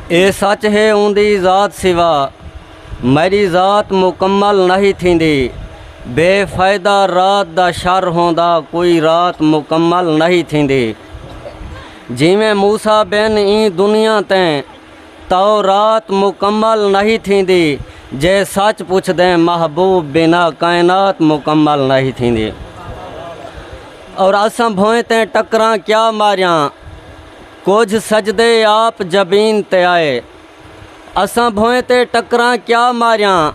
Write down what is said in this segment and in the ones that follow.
اے سچ ہے اوندی ذات سوا میݙی ذات مکمل نہی تھیندی بے فائدہ رات دا شر ہوندا کوئی رات مکمل نہی تھیندی جیویں موسی بن ایں دنیا تیں تاؤ رات مکمل نہی تھیندی جے سچ پچھدیں محبوب بنا کائنات مکمل نہی تھیندی اور اساں بھوئیں تیں ٹکراں کیا ماریاں کجھ سجدے آپ جبین تے آئے اساں بھوئیں تے ٹکراں کیا ماریاں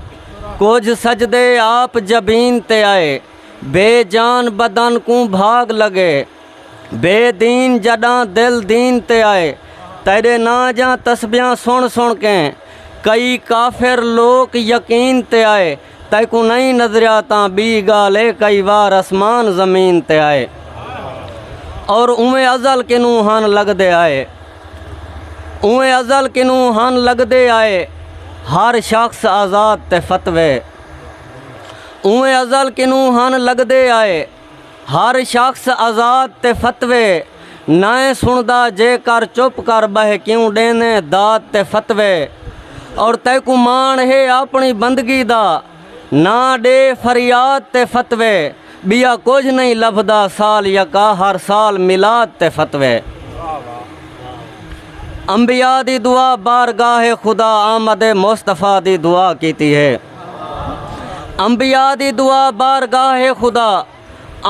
کجھ سجدے آپ جبین تے آئے بے جان بدن کوں بھاگ لگے بے دین جڈاں دل دین تے آئے تیڈے ناں جاں تسبیاں سن سن کیں کئی کافر لوک یقین تے آئے تیکوں نئیں نظریا تاں بی گال اے کئی وار اسمان زمین تے آئے اور اویں ازل کنوں ہن لگدے آئے اویں ازل کنوں ہن لگدے آئے ہر شخص آزاد تے فتوے اویں ازل کنوں ہن لگدے آئے ہر شخص آزاد تے فتوے نائیں سنڑدا جے کر چپ کر بہہ کیوں ڈیندیں داد تے فتوے اور تیکوں ماݨ ہے آپنڑی بندگی دا نا ڈے فریاد تے فتوے بیا کجھ نئیں لبھدا سال یکا ہر سال میلاد تے فتوے انبیاء دی دعا بارگاہ خدا آمد مصطفی دی دعا کیتی ہے۔ انبیاء دی دعا بارگاہ خدا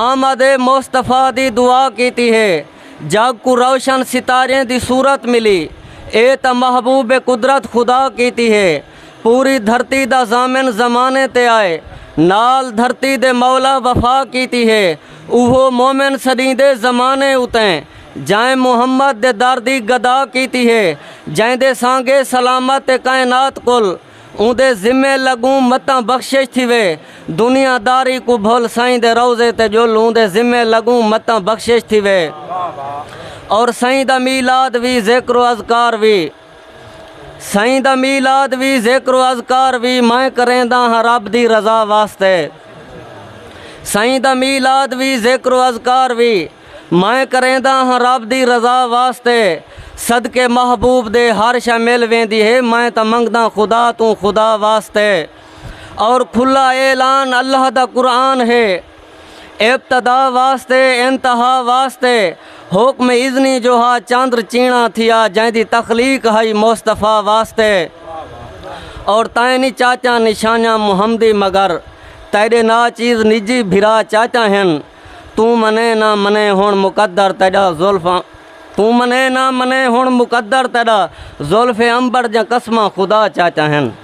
آمد مصطفیٰ دی دعا کیتی ہے جگ کو روشن ستاریں دی صورت ملی اے تاں محبوب قدرت خدا کیتی ہے پوری دھرتی دا ضامن زمانے تے آئے نال دھرتی دے مولا وفا کیتی ہے اوہو مومن سݙیندے زمانے اتیں جئیں محمد دے در دی گدا کیتی ہے جئیں دے سانگے سلامت کائنات کل اوندے ذمے لڳوں متاں بخشش تھیوے۔ دنیا داری کوں بھل سائیں دے روضے تے ڄل اوندے ذمے لڳوں متاں بخشش تھیوے۔ اور سائیں دا میلاد وی ذکر و اذکار وی۔ سائیں دا میلاد وی ذکر و اذکار وی میں کرینداں ہاں رب دی رضا واسطے۔ سائیں دا میلاد وی ذکر و اذکار وی۔ میں کرینداں ہاں رب دی رضا واسطے صدقے محبوب دے ہر شے مل ویندی ہے میں تاں منگداں خدا توں خدا واسطے اور کھلا اعلان اللہ دا قرآن ہے ابتدا واسطے انتہا واسطے حکم اذنی جو ہا چاندر چینا تھیا جائیں دی تخلیق ہائی مصطفیٰ واسطے اور تائیں نہیں چاچا نشانیاں محمدی مگر تیرے نا چیز نجی بھرا چاچا ہیں توں منے نہ منے ہݨ مقدر تیݙا زلف توں منے نہ منے ہݨ مقدر تیݙا زلف عنبر دیاں قسماں خدا چاچا ہن